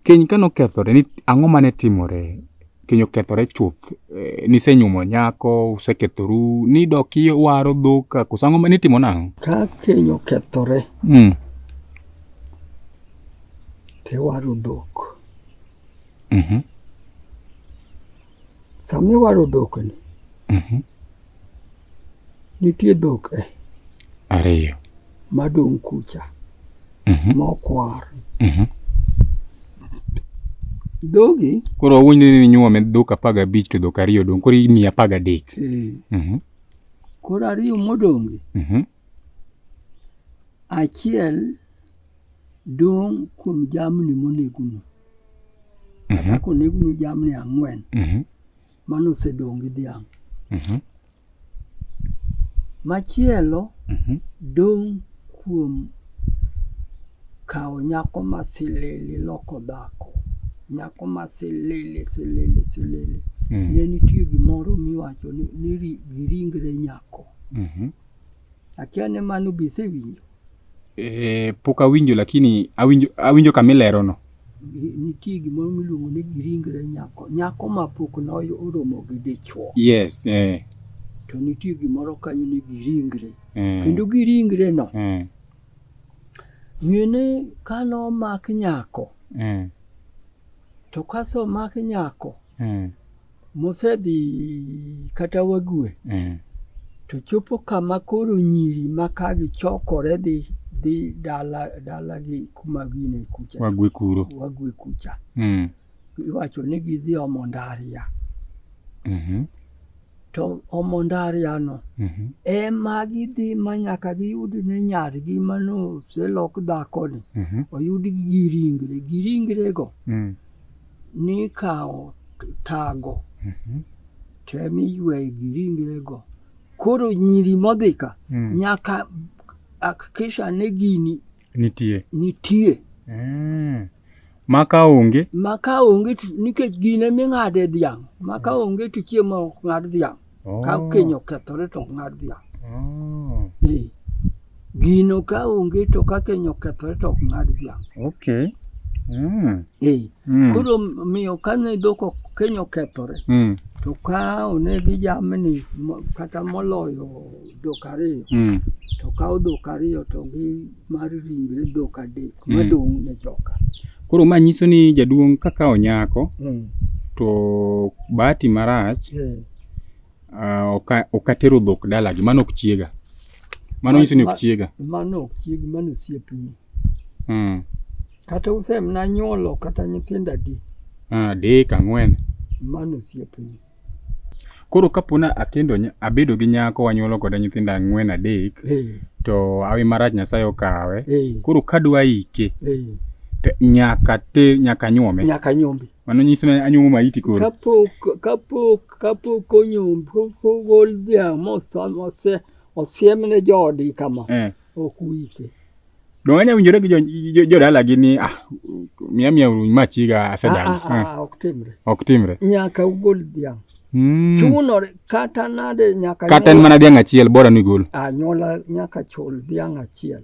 Keny ka nokethore, ang'o mane timore? Keny okethore chuth, eh, nisenyuomo nyako, usekethoru, nidok iwaro dhok, koso ang'o mane itimo nang'o? Ka keny okethore, mm. tiwaro dhok. Mm -hmm. Sama iwaro dhok ni, mm -hmm. nitie dhok e. Ariyo. madong' kucha Mhm. mokwar. Mhm. Dhogi Koro wawuondi ni inyuome dhok apar gabich to dhok ariyo dong' koro imiyi apar gadek. eh, Mhm. koro ariyo modongi, Mhm. achiel dong' kuom jamni monegunu. Mhm. Kaka konegunu jamni ang'wen, Mhm. Mano osedong' gi dhiang'. Mhm. Machielo Mhm. dong' kuom kawo nyako ma silili loko dhako. Nyako ma silili silili silili. Mm. Ne nitie gimoro miwacho ni ni ri- giringre nyako. Mhm. Akia ni mano be isewinjo. Eh, pok awinjo lakini awinjo, awinjo kama ilerono. nitie gimoro miluongo ni giringre nyako nyako ma pok noromo gi dichwo yes eh. to nitie gimoro kanyo ni giringre eh. kendo giringre no eh. ng'ene ka nomak nyako eh. to kaso omak nyako eh. mosedhi kata wagwe eh. to chopo kama koro nyiri ma ka gichokore dhi dhi dala dalagi kuma gine kucha wagwe kuro wagwe kucha mm. iwacho ni gidhi omo ndaria mm -hmm. to omo ndariano mm -hmm. ema gidhi ma nyaka giyud ne nyargi manoselok dhakoni mm -hmm. oyud gi giringre giringrego mm. nikawo tago mhm. tem iyweyo gi ringrego koro nyiri modhi ka mm. nyaka akikisha ni gini nitie nitie mm. maka onge maka onge nikech gine ming'ade dhiang' maka mm. onge to chiemo ok ng'ad dhiang' Oh. Ka keny okethore to ng'ad dhiang'. Oh. Eh. Gino ka onge to ka keny okethore to ok ng'ad dhiang'. Okay. Mm. Eh. Mm. Koro miyo kane dhok ok keny okethore Mm. to ka onegi jamni mo- kata moloyo dhok ariyo mm. to kawo dhok ariyo to gi mar ringre dhok adek mm. madong' ne joka. Koro ma nyiso ni jaduong' kaka onyako mm. to bahati marach mm. uh, ok atero dhok dalagi mano ok chiega mano nyiso ni ok chiega mano ok chiegi mano osiepni mm. kata usemna nyuolo kata nyithindo adi ah, adek ang'wen mano osiepni Koro kapo na akendo abedo gi nyako wanyuolo kode nyithindo ang'wen adek eh. to awi marach Nyasaye okawe. Eh. Koro kadwa ike eh. to nyaka te nyaka nyuome. Nyaka nyuome. Mano nyiso ni anyuomo maiti koro. Kapok kapok kapok onyuom ogol dhiang' mose osiemne joodgi kama ok wike. Donge wanyalo winjore gi jodalagi ni ah, miya miya uru ma chiga asedagi. Ah, ah, ah, ok timre. Ok timre. Nyaka ugol dhiang'. Mm. Chuno kata nade nyaka kata en mana dhiang' achiel bora ni gol. Anyuola nyaka chul dhiang' achiel.